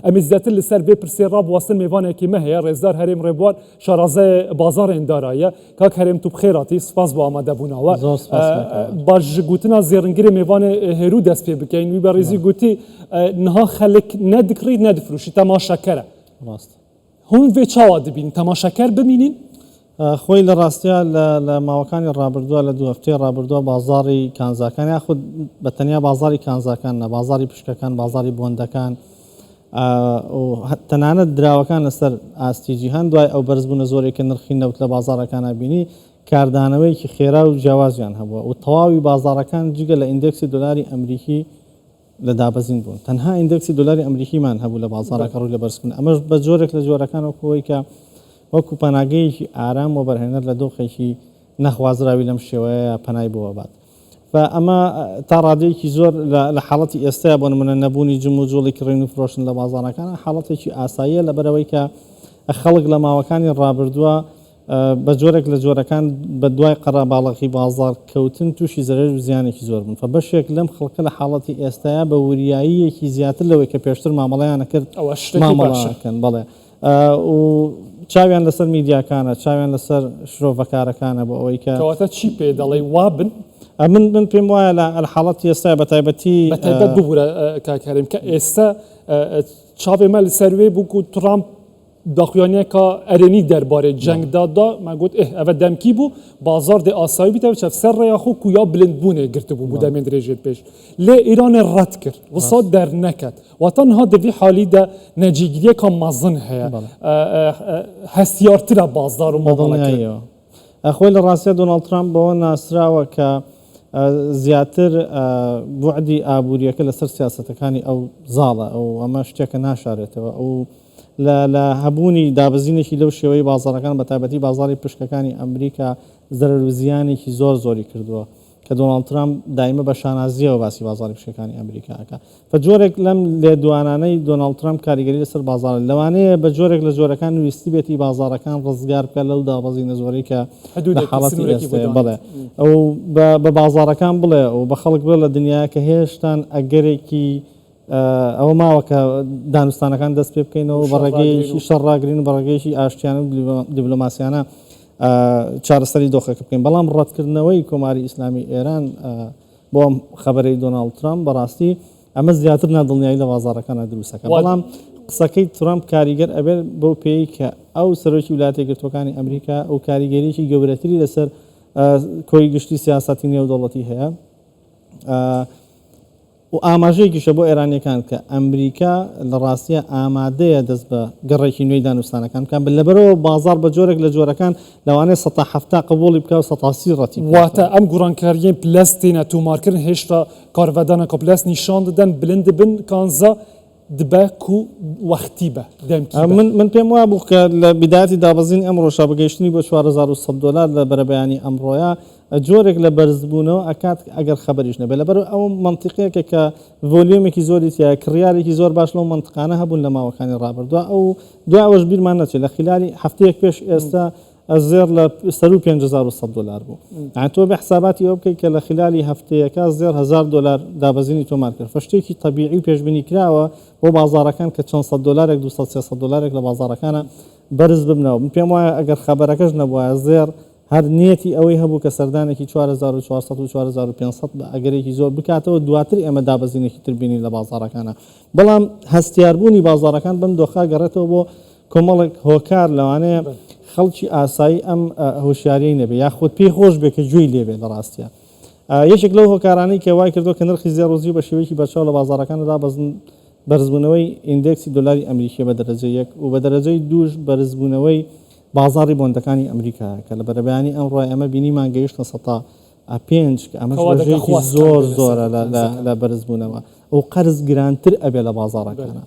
ئەمەی زیاتر لە سەر بێ پرسێ ڕا بواستن مێڤانێ کی مە هەیە ڕێزدار هەرێم ڕێبوار شارازای بازاڕێن داراییە کاک هەرێم تو بخێراتی سوپاس بۆ ئامادە بوناوە زۆر سوپاس کاک هەرێم. با ژ گوتنا زێڕنگرێ مێڤانێ هێرو دەست پێ بکەین وی بەڕیزی گوتی نها خەلک نە دکڕیت نە دفروشیت تەماشە کەرە. ڕاستە. هون ڤێ چاوا دبین تەماشاکەر بمینین. خۆی لە ڕاستیا لە ماوەکانی ڕابردووە لە دوو هەفتەی ڕابردووە بازاڕی کانزاکان یاخود بە تەنیا بازاڕی کانزاکان نە بازاڕی پشکەکان بازاڕی بۆندەکان تەنانەت دراوەکان لەسەر ئاستی جیهان دوای ئەو بەرزبوونە زۆرێک کە نرخی نەوت لە بازارەکانە بینی کاردانەوەیەکی خێرا و جیاوازیان هەبووە و تەواوی بازارەکان جگە لە ئیندێکسی دۆلاری ئەمریکی لە دابەزین بوون تەنها ئیندێکسی دۆلاری ئەمریکیمان هەبوو لە بازاڕە کە ڕووی لە بەرزبوون ئەمەش بە جۆرێک لە جۆرەکان وەکوەوەی کە وەکو پەناگەیەکی ئارام وەبەرهێنەر لە دۆخێکی نەخوازراوی لەم شێوەیە پەنای بۆ بات و ئەمە تا ڕادەیەکی زۆر لە حاڵەتی ئێستایا بۆ نمونە نەبوونی جم و جۆڵی کڕین و فرۆشن لە بازاڕەکان حاڵەتێکی ئاساییە لەبەرەوەی کە خەڵک لە ماوەکانی ڕابردووە بە جۆرێک لە جۆرەکان بە دوای قەراباڵغی بازاڕ کەوتن تووشی زەرەر و زیانێکی زۆر بوون فە بەشێک لەم خەڵکە لە حاڵەتی ئێستایا بە وریاییەکی زیاتر لەوەی کە پێشتر مامەڵەیان ئەکرد مامەڵە ئەکەن بەڵێ و چاویان لەسەر میدیاکانە چاویان لەسەر شرۆڤەکارەکانە بۆ ئەوەی کە کەواتە چی پێ دەڵێی وا بن من من پێم وایە لە حاڵەت ئێستا بە تایبەتی بەتایبەت ببورە کاکاریم کە ئێستا چاوێمە لەسەر وێ بوو و ترامپ داخویانێکا ئەرێنی دەربارەی جەنگدا دا، ما گوت، ئه، ئەڤە دەمکی بوو، بازاڕ دێ ئاسایی بیتە و چەفسەر رێیا خو کو یا بلندبوونێ گرتبوو بوو دەمێ درێژێ پیش. لێ ئیرانێ رەد کرد، وسا دەرنەکەت. واتا نها دە ڤی حالی دا نەجیگریێکا مەزن هەیە، هەستیارترە بازاڕ و مامەڵەکەر. خۆی لە ڕاستیا دۆناڵد ترامپ بەوە ناسراوە کە زیاتر بوعدی ئابووریەکە لەسەر سیاسەتەکانی ئەو زاڵە ئەو ئەمە شتێکە ناشارێتەوە ئەو لە هەبوونی دابزینێکی لەو شێوەی بازارەکان بە تابەتی بازاری پشکەکانی ئەمریکا زەرەر و زیانێکی زۆر زۆری کردووە کە دۆناڵد ترامپ دایمە بە شانازییەوە باسی بازاڕی پشکەکانی ئەمریکا ئەکا. فە جۆرێک لەم لێدوانانەی دۆناڵد ترامپ کاریگەری لەسەر بازاڕە. لەوانەیە بە جۆرێک لە جۆرەکان ویستی بێتی بازاڕەکان ڕزگار بکا لەو دابەزینە زۆرەی کە لە حاڵەتی ئێستەیە. بەڵێ. و بە بازاڕەکان بڵێ و بە خەڵک بڵێ لە دنیایەک کە هێشتان ئەگەرێکی ئەوە ماوە کە دانوستانەکان دەست پێ بکەینەوە بە ڕێگەیەکی شەڕ ڕاگرین بە ڕێگەیەکی ئاشتیانە و دیبلۆماسیانە چارەسەری دۆخەکە بکەین بەڵام ڕەتکردنەوەی کۆماری ئیسلامی ئێران بۆ ئەم خبرەی دۆناڵد ترامپ بەڕاستی ئەمە زیاتر نادڵنیایی لە بازارەکانە دروستەکە بەڵام قسەکەی ترامپ کاریگەر ئەبێت بەو پێی کە ئەو سەرۆکی ولاتی گرتوەکانی ئەمریکا ئەو کاریگەریی گەورەتری لەسەر کۆی گشتی سیاستی نێودەوڵەتی هەیە و ئاماژەیەکیشە بۆ ئێرانییەکان کە ئەمریکا لە ڕاستییا ئامادەیە دەست بە گەڕێکی نوێی دانوستانەکان بکات، لەبەرئەوە بازاڕ بە جۆرێک لە جۆرەکان لەوانەیە سەتا حەفتا قبوڵی بکات و سەتا سی ڕەتی بکات. واتە ئەم گوڕانکارییەی پلەس تێنە تۆمارکرن هێشتا کارڤدانە کە پلەس نیشان دەدەن بلند بن کانزا، دبە کو وەختی بە دەمکی بە. من پێم وابوو کە لە بیدایەتی دابەزینی ئەمڕۆشا بە گەیشتنی بۆ چوار هەزار و سەد دۆلار لە بەرەبەیانی ئەمڕۆیا جۆرێک لە بەرزبوونەوە ئەکات ئەگەر خەبەریش نەبێت لەبەر ئەو مەنتیقێکە کە ڤۆلیۆمێکی زۆری تیایە کڕیارێکی زۆر باش لەو مەنتقانە هەبوون لە ماوەکانی ڕابردوە ئەو دوای ئەوەش بیرمان نەچێت لە خیلالی هەفتەیەک پێش ئێستا ئە زێڕ لە سەروو پێنج هەزار و سەد دۆلار بوو یان تۆ بێ حساباتی ئەوە بکەیت کە لە خلالی هەفتەیەکە زێڕ هەزار دۆلار دابەزینی تۆمار کرد فە شتێکی طبیعی و پێشبینی کراوە بۆ بازارەکان کە چەند سەد دۆلارێک دو سەد سێ سەد دۆلارێک لە بازارەکانە بەرز ببنەوە من پێم وایە ئەگەر خەبەرەکەش نەبوایە زێڕ هەر نیەتی ئەوەی هەبوو کە سەردانێکی 4400 و 4500 بە ئەگەرێکی زۆر بکاتەوە دواتر ئێمە دابەزینێکی تربینی لە بازارەکانە بەڵام هەستیاربوونی بازارەکان بەم دۆخا گەڕێتەوە بۆ کۆمەڵێک هۆکار لەوانەیە خەڵکی ئاسایی ئەم هۆشیاریەی نەبێ یاخود پێی خۆش بێ کە گوێی لێبێ لە ڕاستیا یەکێک لەو هۆکارانەی کە وای کردو کە نرخی زێڕ و زیو بە شێوەیەکی بەرچاو لە بازاڕەکاندا دابەزن بەرزبوونەوەی ئیندێکسی دۆلاری ئەمریکیە بە دەرەجە یەک و بە دەرەجەی دووش بەرزبوونەوەی بازاڕی بۆندەکانی ئەمریکایە کە لە بەرەبەیانی ئەمڕۆ ئێمە بینیمان گەیشتە سەتا ئە پێنج کە ئەمەش ڕێژەیەکی زۆر زۆرە لە بەرزبوونەوە و قەرز گرانتر ئەبێ لە بازاڕەکانە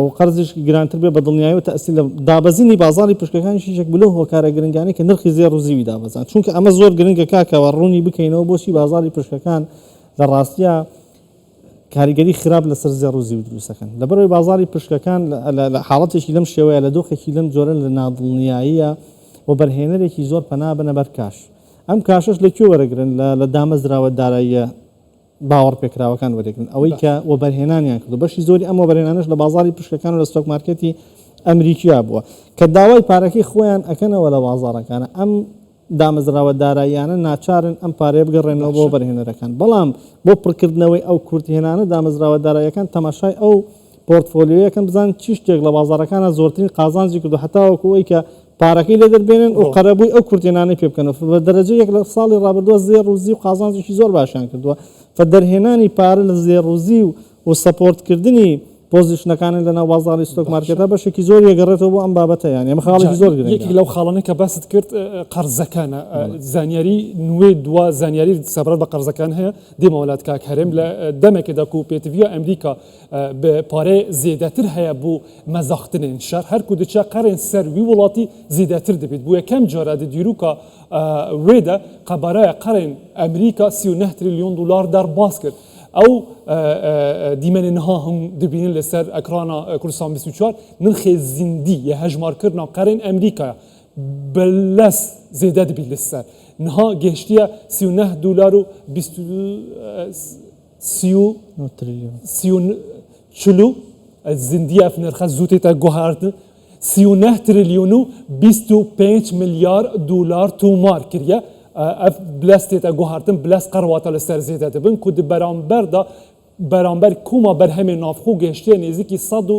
و قەرزیش گرانتر بێ بە دڵنیایی و تەسی لە دابەزینی بازاری پشکەکانی شیشێک بلو هۆکارە گرنگانی کە نرخی زێ ڕزیوی دابزان چونکە ئەمە زۆر گرنگە کاکەوە ڕوونی بکەینەوە بۆچی بازاری پشکەکان لە ڕاستە کاریگەری خراپ لەسەر زێ ڕزی و دروستەکەن لەبەرەوەی بازاری پشکەکان لە حاڵەتێکی لەم شێوەیە لە دۆخێکی لەم جۆرە لە نادڵنیاییە و بەرهێنەرێکی زۆر پەنا بنە بەر کاش ئەم کاشەش لە کوێ وەرەگرن؟ لە لە دامەزراوە داراییە باوەڕپێکراوەکان وەرەگرن، ئەوەی کە وەبەرهێنانیان کردووە، بەشی زۆری ئەم وەبەرهێنانەش لە بازاڕی پشکەکان و لە ستۆک مارکێتی ئەمریکیا بووە، کە داوای پارەکەی خۆیان ئەکەنەوە لە بازاڕەکانە، ئەم دامەزراوە داراییانە ناچارن ئەم پارەیە بگەڕێننەوە بۆ وەبەرهێنەرەکان، بەڵام بۆ پڕکردنەوەی ئەو کورتهێنانە دامەزراوە داراییەکان تەماشای ئەو پۆرتفۆلیۆیەکەم بزانن چی شتێک لە بازاڕەکانا زۆرترین قازانجی کردوە هەتاوەکو ئەوەی کە پارەکەی لێ دەربێنن و قەرەبووی ئەو کورتێنانەی پێ بکەن بە دەرەجە یەک لە ساڵی ڕابردووە زێڕ و زیو و قازانجێکی زۆر باشیان کردووە فە دەرهێنانی پارە لە زێڕ و زیو و سەپۆرتکردنی پۆزیشنەکانن لەناو بازاڕی ستۆک مارکێتا بەشێکی زۆر یەگەڕێتەوە بۆ ئەم بابەتە یان ئەمە خاڵێکی زۆر گرنگە یەکێک لەو خاڵانەی کە باست کرد قەرزەکانە زانیاری نوێ دوا زانیاری سەبارەت بە قەرزەکان هەیە دێمەوەلات کاک هەرێم لە دەمێکدا کو پێتڤیا ئەمریکا بە پارێ زێدەتر هەیە بو مەزاختنێن شەر، هەر کو دچە قەرێن سەر وی وڵاتی زیدەتر دبیت، بو یەکەم جارە دە دیروکا وێ دە قەبارایە قەرێن ئەمریکا سی و نە تریلیۆن دولار دەر باز کرد. ئەو دیمەنێ نها هون دبینن لە سەر ئەکرانا کوردستان بیست و چوار، نرخێ زیندی یە هەژمار کردنا قەرێن ئەمریکایە بە لەس زێدە دبیت لە سەر نها گهشتیە سی و نە دولار و بیست سی و نۆ تریلیۆن. سی و چل و زیندی ئەف نرخە زوو تێتە گوهارتن، سی و نە تریلیۆن و بیست و پێنج ملیار دولار توومار کریە. ئەف بلەس تێتە گوهارتن بلەس قەرواتە لە سەر زێدە دبن کو دە بەرامبەر دا بەرامبەر کوما بەرهەمێ ناوخۆ گەشتیە نێزیکی سەد و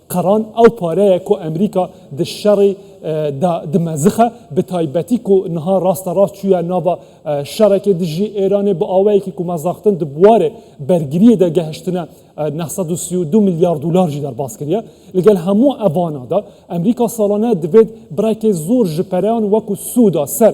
قەران ئەو پارەیە کو ئەمریکا د شەڕی دا دمەزخە بە تایبەتی کو نها ڕاستە ڕاست چویە ناڤا شەڕێکێ دژی ئێرانێ بە ئاوەیەکی کو مەزاختن د بوارێ بەرگریێ دا گەهشتنە نە سەد و سی و دو ملیار دولار ژی دەرباز کریە. لەگەل هەموو ئەڤانە دا ئەمریکا ساڵانە دڤێد بڕێکێ زۆر ژ پەرەیان وەکو سودا سەر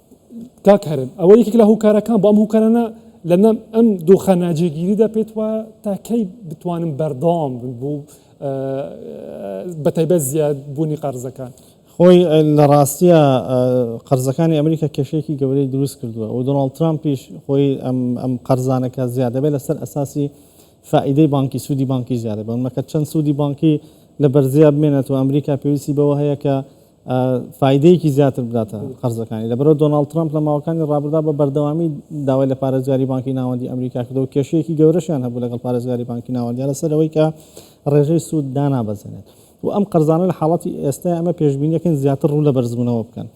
کاک هەرێم ئەوە یەکێک لە هۆکارەکان بۆ ئەم هۆکارانە لەنەم ئەم دۆخە ناجێگیریدا پێت وایە تا کەی بتوانن بەردەوام بن بۆ بەتایبەت زیاد بوونی قەرزەکان خۆی لە ڕاستیە قەرزەکانی ئەمریکا کێشێکی گەورەی دروست کردووە و دۆناڵ ترامپیش خۆی ئەم قەرزانەکە زیادەبێت لەسەر ئەساسی فائیدەی بانکی سوودی بانکی زیادە بەمەکە چەند سوودی بانکی لە بەرزیا بمێنێت و ئەمریکا پێویستی بەوە هەیە کە فایدەیەکی زیاتر بداتە قەرزەکانی لەبەرەوە دۆناڵد ترەمپ لە ماوەکانی ڕابردا بە بەردەوامی داوای لە پارێزگاری بانکی ناوەندی ئەمریکا کردەوە کێشەیەکی گەورەشیان هەبوو لەگەڵ پارێزگاری بانکی ناوەندی لەسەر ئەوەی کە ڕێژەی سوود دانابەزێنێت و ئەم قەرزانە لە حاڵەتی ئێستا ئەمە پێشبینیەکەن زیاتر ڕوو لە بەرزبوونەوە بکەن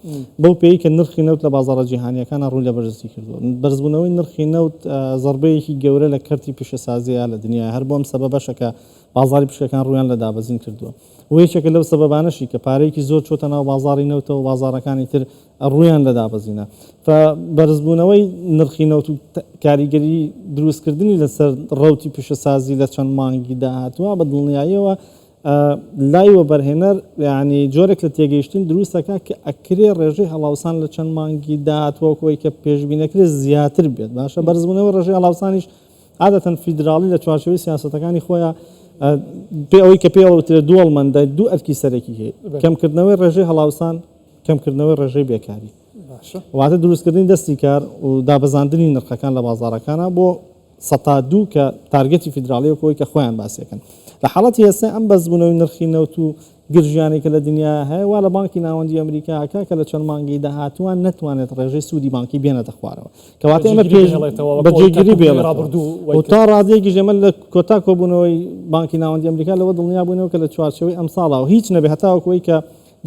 بەو پێی کە نرخی نەوت لە بازارە جیهانیەکان ڕوو لە بەرزی کردو بەرزبوونەوەی نرخی نەوت زربەیەکی گەورە لە کەرتی پیشەسازیە لە دنیا هەر بۆم سەبە بەشەکە بازاری پشکەکان ڕویان لە دابەزین کردووە و یەکێکە لەو سەبەبانەشی کە پارەیەکی زۆر چۆتە ناو بازاڕی نەوتەوە و بازاڕەکانی تر ڕوویان لە دابەزینە ف بەرزبوونەوەی نرخی نەوت و کاریگەری دروستکردنی لەسەر ڕەوتی پیشەسازی لە چەند مانگی داهاتوە بە دڵنیاییەوە لای وەبەرهێنەر یعنی جۆرێک لە تێگەیشتن دروستەکە کە ئەکرێ ڕێژەی هەڵاوسان لە چەند مانگی داهاتوەکەوەی کە پێشبینەکرێت زیاتر بێت باشە بەرزبوونەوە ڕێژەی هەڵاوسانیش عادەتەن فیدراڵی لە چوارچێوەی سیاسەتەکانی خۆیا پێ ئەوەی کە پێوە وترێت دووەڵمەندە دوو ئەرکی سەرەکی هەیە کەمکردنەوەی ڕێژەی هەڵاوسان کەمکردنەوەی ڕێژەی بێکاری واتە دروستکردنی دەستی کار و دابەزاندنی نرخەکان لە بازارەکانە بۆ سەتا دوو کە تارگەتی فیدراڵیەکەوەی کە خۆیان باسیەکەن لە حاڵەتی ئێستا ئەم بەزبوونەوەی نرخی نەوت و گرژیانەی کە لە دنیا هەیە وا لە بانکی ناوەندی ئەمریکا ئەکا کە لە چەند مانگەی داهاتووان نەتوانێت ڕێژەی سوودی بانکی بێنێتە خوارەوە کەواتە ئێمە پێش بە جێگیری بێڵێتەوە و تا ڕادەیەکیش ئێمە لە کۆتا کۆبوونەوەی بانکی ناوەندی ئەمریکا لەوە دڵنیا بووینەوە کە لە چوارچێوەی ئەمساڵا و هیچ نەبێت هەتاوەکو ئەوەی کە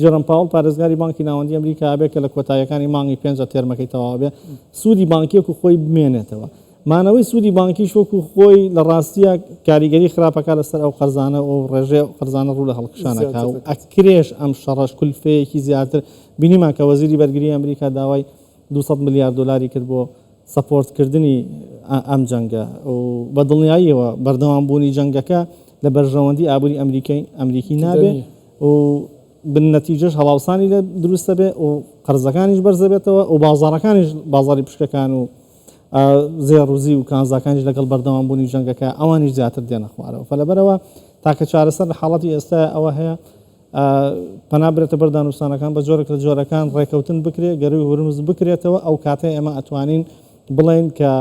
جێرۆم پاوڵ پارێزگاری بانکی ناوەندی ئەمریکا ئەبێت کە لە کۆتاییەکانی مانگی پێنجا تێرمەکەی تەواو ئەبێت سوودی بانکی وەکو خۆی بمێنێتەوە مانەوەی سوودی بانکیش وەکو خۆی لە ڕاستییا کاریگەری خراپ ئەکات لەسەر ئەو قەرزانە و ڕێژەی ئەو قەرزانە ڕوو لە هەڵکشان ئەکات و ئەکرێش ئەم شەڕەش کولفەیەکی زیاتر بینیمان کە وەزیری بەرگری ئەمریکا داوای دوو سەد ملیار دۆلاری کرد بۆ سەپۆرتکردنی ئەم جەنگە و بە دڵنیاییەوە بەردەوام بوونی جەنگەکە لە بەرژەوەندی ئابووری ئەمریکای ئەمریکی نابێ و بن نەتیجەش هەڵاوسانی لێ دروست ئەبێ و قەرزەکانیش بەرز ئەبێتەوە و بازاڕەکانیش بازاڕی پشکەکان و زێڕوزیو کانزاکانیش لەگەڵ بەردەوامبوونی جەنگەکە ئەوانیش زیاتر دێنە خوارەوە فەلەبەرەوە تاکە چارەسەر لە حاڵەتی ئێستای ئەوە هەیە پەنا برێتە بەر دانوستانەکان بە جۆرێک لە جۆرەکان ڕێکەوتن بکرێت گەروی هورمز بکرێتەوە ئەو کاتێ ئێمە ئەتوانین بڵێن کە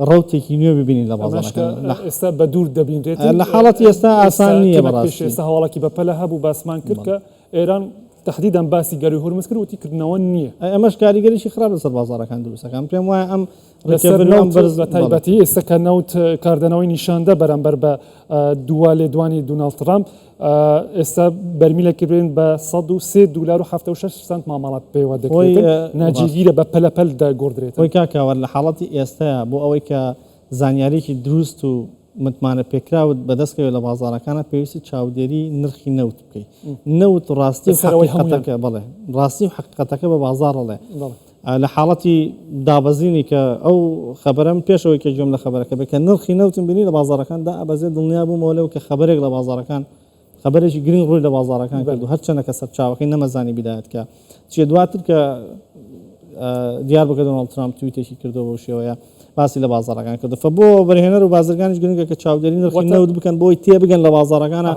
ڕوتێکی نوێ ببینین لە ئێستا بە دوور دەبینرێت لە حاڵەتی ئێستا ئاسان نیە ئێستا هەواڵکی بەپەلە هەبوو باسمان کرد کە ئێران تەحدیدەن باسی گەرووی هورمز کرد وتی کردنەوە نییە. ئەمەش کاریگەریی خراپ لەسەر بازاڕەکان دروست دەکات. پێم وایە ئەم لەسەر نەوت بە تایبەتی ئێستا کە نەوت کاردانەوەی نیشاندا بەرامبەر بە دوا لێدوانی دوناڵد ترامپ ئێستا بەرمیلێک کردوێن بە سەد و سێ دولار و حەفتا و شەش سەنت مامەڵە پێوە دەکرێت ناجێگیرە بە پەلە پەل دەگۆڕدرێت. هۆی کاکەوەر لە حاڵەتی ئێستایا بۆ ئەوەی کە زانیاریی دروست و متمانەپێکراوت بەدەست کەوێت لە بازاڕەکانا پێویستە چاودێری نرخی نەوت بکەی نەوت ڕاستی و حەقیقەتەکە بەڵێ ڕاستی و حەقیقەتەکە بە بازاڕ ئەڵێ لە حاڵەتی دابەزینی کە ئەو خەبەرەم پێشەوەی کە گوێم لە خەبەرەکە بێت کە نرخی نەوتم بینی لە بازاڕەکان دائەبەزێت دڵنیا بوومەوە لەوە کە خەبەرێک لە بازاڕەکان خەبەرێکی گرنگ ڕووی لە بازاڕەکان کرد و هەرچەندە کە سەرچاوەکەی نەمەزانی بیدایەت کە چیە دواتر کە دیار بکە دۆناڵد ترامپ تویتێکی کردەوە بەو شێوەیە باسی لە بازاڕەکان کردو فە بۆ بەرهێنەر و بازرگانیش گرنگە کە چاودێری نرخی نەوت بکەن بۆی تێ بگەن لە بازاڕەکانە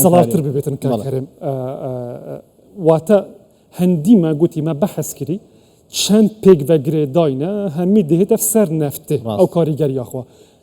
سەڵاتر ببێتن کارم واتە هەندیمە گوتیمە بەحەسکری چەند پێک بەگرێداینە هەمی دێتە سەر نەفتێ ئەو کاریگەری یاخوا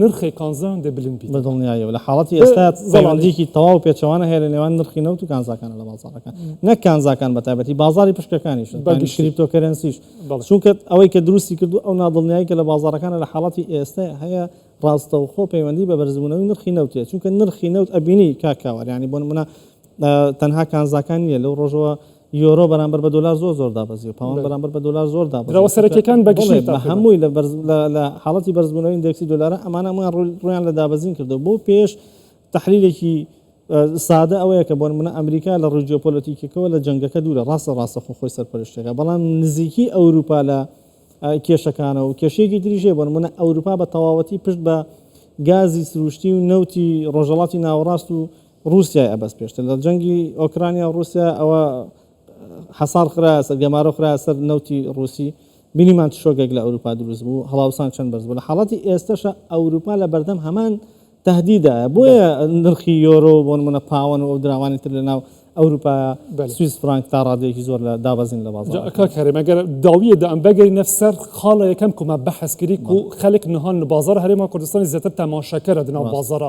نرخێ کانزایان دە بلند بیت. بە دڵنیاییەوە لە حاڵەتی ئێستا پەیوەندییەکی تەواو و پێچەوانە هەیە لە نێوان نرخی نەوت و کانزاکانە لە بازاڕەکە، نەک کانزاکان بە تایبەتی، بازاڕی پشکەکانیش، یانی کریپتۆکەرەنسیش، چونکە ئەوەی کە دروستی کردووە ئەو نادڵنیایی کە لە بازاڕەکانە لە حاڵەتی ئێستا هەیە ڕاستەوخۆ پەیوەندی بە بەرزبوونەوەی نرخی نەوت هەیە، چونکە نرخی نەوت ئەبینی کاک کاوەر یانی بۆ نموونە تەنها کانزاکان نییە لەو ڕۆژەوە یۆرۆ بەرامبەر بە دلار زۆر زۆر دابەزی و پاوەند بەرامبەر بە دلار زۆر دابەزی درەوە سەرەکیەکان بەگشتی بە هەمووی لە حاڵەتی بەرزبوونەوەی ئیندێکسی دلارە ئەمانە هەموویان ڕویان لە دابەزین کردو بۆ پێش تحلیلێکی سادە ئەوەیە کە بۆن منە ئەمریکا لە ڕووی جیۆپۆلەتیکەکەەوە لە جەنگەکە دوورە ڕاستە ڕاستە خۆ خۆی سەرپەرشتەکە بەڵام نزیکی ئەوروپا لە کێشەکانە و کێشێکی دریژێ بۆن منە ئەوروپا بە تەواوەتی پشت بە گازی سروشتی و نەوتی ڕۆژەڵاتی ناوەڕاست و ڕوسیای ئەبەست پێشتر لە جەنگی ئۆکرانیا و ڕوسیا ئەوە حەسار خرایە سەر گەمارۆ خرایە سەر نەوتی ڕوسی بینیمان چ شۆگێک لە ئەوروپا دروست بوو هەڵاوسان چەند بەرز بوو لە حاڵەتی ئێستەشە ئەوروپا لە بەردەم هەمان تهدیدایە بۆیە نرخی یۆرۆ بۆ نمونە پاوەن و ئەو دراوانی تر لە ناو ئەوروپا سویس فرانک تا ڕادەیەکی زۆر لە دابەزین لە بازار کاک هەرێم ئەگەر داویە دام بەگەرینە سەر خاڵە یەکەم کومە بەحەسکری و خەلک نهان بازار هەرێما کوردستانی زیاتر تەماشەکەرە دناو بازارە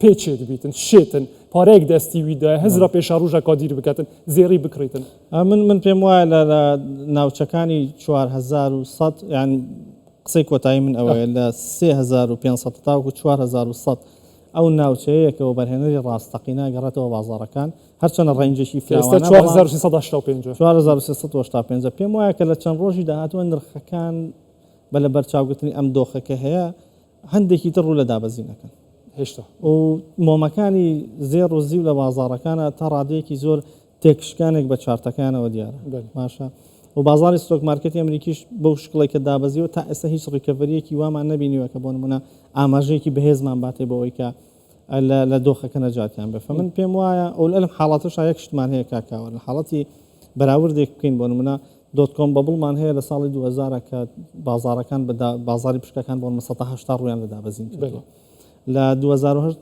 پێچێ دبیتن شێتن پارەیەک دەستی وی دای هەز رە پێشا ڕژە کادیر بکەن زێری بکڕیتن من من پێم وایە لە لە ناوچەکانی 1970 یان قسەی کۆتایی من ئەوەیە لە 3500 تاوکو 1970 ئەو ناوچەیەکەوە بەرهێنەری ڕاستەقینە گەڕێتەوە بازارەکان هەرچەنە ڕێنجێکی فراوانە 1970 پێم وایە کە لە چەند ڕۆژی داهاتوە نرخەکان بە لە بەرچاوگرتنی ئەم دۆخەکە هەیە هەندێکی تر ڕوو لە دابەزین ئەکەن هێشتا و مۆمەکانی زێڕ و زیو لە بازاڕەکانە تا ڕادەیەکی زۆر تێکشکانێک بە چارتەکانەوە دیارە باشە و بازاری ستۆک مارکەتی ئەمریکیش بەو شکڵی کە دابەزیەوە تا ئێستا هیچ ڕیکەڤریەکی وامان نبینیوە کە بۆن منە ئاماژەیەکی بەهێزمان باتێ بۆ ئەوی کە لە دۆخەکە نەجاتیان بێ فمن پێم وایە ئەو لەلم حاڵاتەش یەک شتمان هەیە کاکاوە لە حاڵەتی بەراوردێک بکەین بۆ منە دۆت کۆم بەبڵمان هەیە لە ساڵی دوو هەزار کە بازاڕەکان بە بازاری پشکەکان بۆ نمە سەتا هەشتا ڕویان لە دابەزین کردووە لە 2010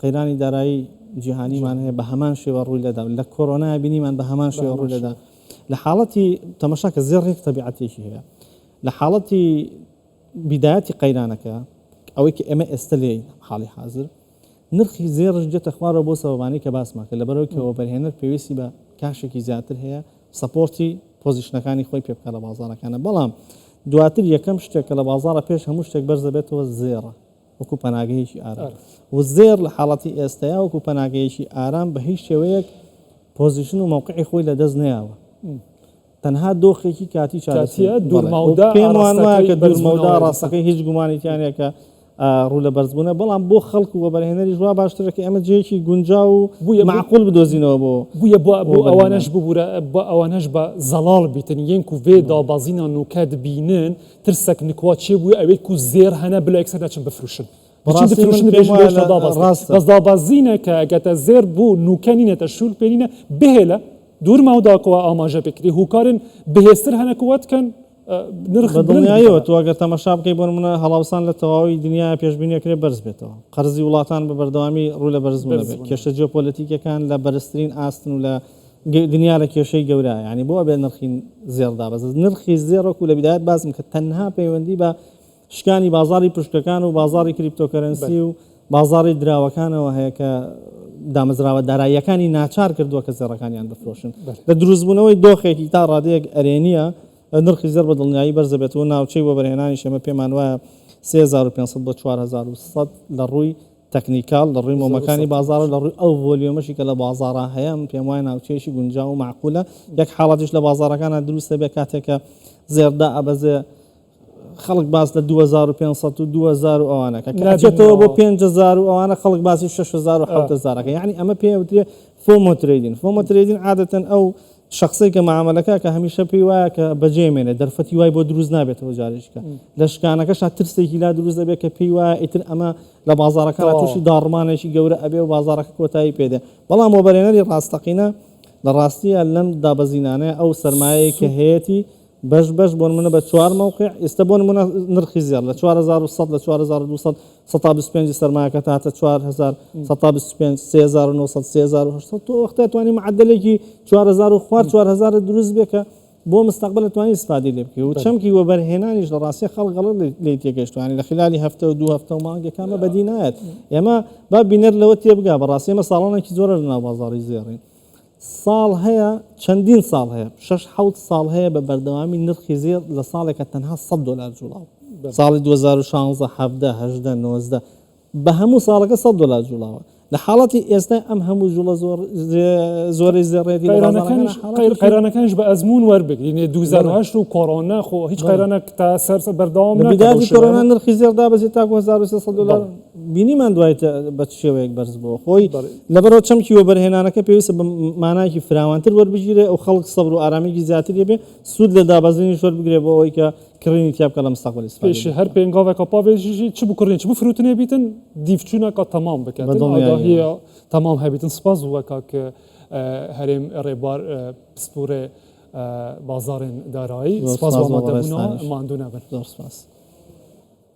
قەیرانی دارایی جیهانیمان هەیە بە هەمان شێوە ڕووی لەدا لە کۆرۆنا بینیمان بە هەمان شێوە ڕوو لەدا لە حاڵەتی تەمەشا کە زێڕ ڕێک تەبیعەتێکی هەیە لە حاڵەتی بیدایەتی قەیرانەکە ئەوەی کە ئێمە ئێستا لێ حاڵی حاضر نرخی زێڕش دێتە خوارەوە بۆ سەبەبانەی کە باسمان کرد، لەبەرئەوەی کە وەبەرهێنەر پێویستی بە کاشێکی زیاتر هەیە سەپۆرتی پۆزیشنەکانی خۆی پێ بکات لە بازاڕەکانە، بەڵام دواتر یەکەم شتێک کە لە بازاڕە پێش هەموو شتێک بەرز دەبێتەوە زێڕە وەکو پەناگەیەکی ئارام و زێڕ لە حاڵەتی ئێستایا وەکو پەناگەیەکی ئارام بە هیچ شێوەیەک پۆزیشن و مەوقعی خۆی لەدەست نەیاوە. تەنها دۆخێکی کاتی چارەسەری کاتیە دوورمەودا پێم وان وایە کە دوورمەودا ڕاستەکەی هیچ گومانی تیا نیە کە ڕوو لە بەرزبوونە بەڵام بۆ خەڵک و وەبەرهێنەری ژوا باشترە کە ئێمە جێیەکی گونجا و بووە معقول بدۆزینەوە بۆ بووە بۆ بۆ ئەوانەش ببوورە بە ئەوانەش بە زەڵاڵ بیتن یەنک و vێ دابازینا نوکات بینن ترسەک نکوا چێ بووە ئەوێک و زێر هەنە بلێکسەر دەچن بفروشن بەڕاستی من پێم وایە ڕاستە بەس دابەزینە کە گەتە زێر بو نوکەنینەتە شول پێنینە بهێلە دورماو داکەوە ئاماژە پێکری هوکارن بەهێزتر هەنە کوەت کەن نرخ دڵنیایەوە تو ئەگەر تەمەشا بکەی بۆ نمونە هەڵاوسان لە تەواوی دنیا پێشبینی کرێ بەرز بێتەوە قەرزی وڵاتان بە بەردەوامی ڕوو لە بەرز بێت کێشە جیۆپۆلەتیکەکان لە بەرزترین ئاستن و لە دنیا لە کێشەی گەورە ینی بۆ بێ نرخین زێڕدا بەز نرخی زێڕۆک و لە بدایت باسم کە تەنها پەیوەندی بە شکانی بازاڕی پشکەکان و بازاڕی کریپتۆکەرەنسی و بازاڕی دراوەکانەوە هەیە کە دامەزراوە داراییەکانی ناچار کردووە کە زێڕەکانیان بفرۆشن لە دروستبوونەوەی دۆخێکی تا ڕادەیەک ئەرێنیە نرخی زێر بە دڵنیایی بەرزەبێت و ناوچەی بۆ بەرهێنانی شێمە پێمان وایە 3500 بۆ 4100 لە ڕووی تەکنیکال لە ڕووی مۆمەکانی بازارە لە ڕووی ئەو ڤۆلیۆمەشی کە لە بازارە هەیە من پێم وایە ناوچەیەکی گونجا و معقولە یەک حاڵاتیش لە بازارەکانە دروستە بێ کاتێکە زێردا ئەبەزێ خەڵک باس لە دوو هەزار و پێنج سەد و دوو هەزار و ئەوانە کە کە نابینەوە. ئەچێتەوە بۆ پێنج هەزار و ئەوانە خەڵک باسی شەش هەزار و آه. حەوت هەزارەکە یعنی ئەمە پێ وترێ فۆمۆ ترەیدین فۆمۆ ترەیدین عادەتەن ئەو شخصی کە معاملەکە کە هەمیشە پێی وایە کە بەجێمێنێ دەرفەتی وای بۆ دروست نابێتەوە جارێکە م. لە شکانەکەشا ترسێکی لا دروست دەبێت کە پێی وایە ئیتر ئەمە لە بازارەکان تەواوە. تووشی داڕمانێکی گەورە ئەبێ و بازارەکە کۆتایی پێدێ بەڵام وەبەرێنەری ڕاستەقینە لە ڕاستیە لەم دابەزینانەیە ئەو سەرمایەیە کە سود هەیەتی بەش بەش بۆ نمونە بە چوار مەوقع ئیستە بۆ نمونە نرخی زێڕ لە چوار هەزار و سەد لە چوار هەزار و دوو سەد سەتا بیست پێنجی سەرمایەکەت هاتە چوار هەزار سەتا بیست و پێنج سێ هەزار و نۆ سەد سێ هەزار و هەشت سەد تۆ وەختە توانی معەدەلێکی چوار هەزار و خوار چوار هەزار دروست بێ کە بۆ مستقبل توانی استفادی لێ بکەی و چەمکی وەبەرهێنانیش لە ڕاستە خەڵ گەڵ لی تێگەشتوانی لە خلالی هەفتە و دوو هەفتە و مانگەکانمە بەدی نایەت ئێمە با بینەر لەوە تێبگا بەڕاستێمە ساڵانێکی زۆرە لە ناو بازاری زێڕین ساڵ هەیە، چەندین ساڵ هەیە، شەش حەوت ساڵ هەیە بە بەردەوامی نرخی زێڕ لە ساڵێکە تەنها سەد دۆلار جووڵا بوو. ساڵی دوو هەزار و شانزدە، حەڤدە، هەژدە، نۆزدە بە هەموو ساڵەکە سەد دۆلار جووڵاوە. لە حاڵەتی ئێستای ئەم هەموو جووڵە زۆرەی زێڕێتی لە بازاڕەکاندا حاڵەتێکی. قەیرانەکانیش بە ئەزموون وەربگرین، دوو هەزار و هەشت و کۆڕۆنا خۆ هیچ قەیرانێک تا سەر بەردەوام نەکرد. لە بیداتی کۆرۆنا نرخی زێڕ دابەزی تاکوو هەزار و سێ سەد دۆلار. بینیمان دوای تە بە چ شێوەیەک بەرز بۆوە خۆی. لەبەرئەوە چەمکی وەبەرهێنانەکە پێویستە بە مانایەکی فراوانتر وەربگیرێ و خەڵک سەبر و ئارامییەکی زیاتری هەبێ، سوود لە دابەزینیش وەربگرێ بۆ ئەوەی کە کڕینی تیا بکا لە مستەقبەل ئیستفادەی پێشێ هەر پێنگاڤەکا پاڤێژیژی چ بکڕین چ بفروتنێ بیتن دیفچوونەکا تەمام بکەن بە دڵنیاییەوە. ئاگاهییە تەمام هەبیتن سپاس بۆ وە کاک هەرێم ڕێبوار پسپوورێ بازاڕێن دارایی. زۆر سپاس بۆ سپاس بۆ ئامادە بوونەوە ڕێزتانیش. ماندوو نەبن. زۆر سپاس.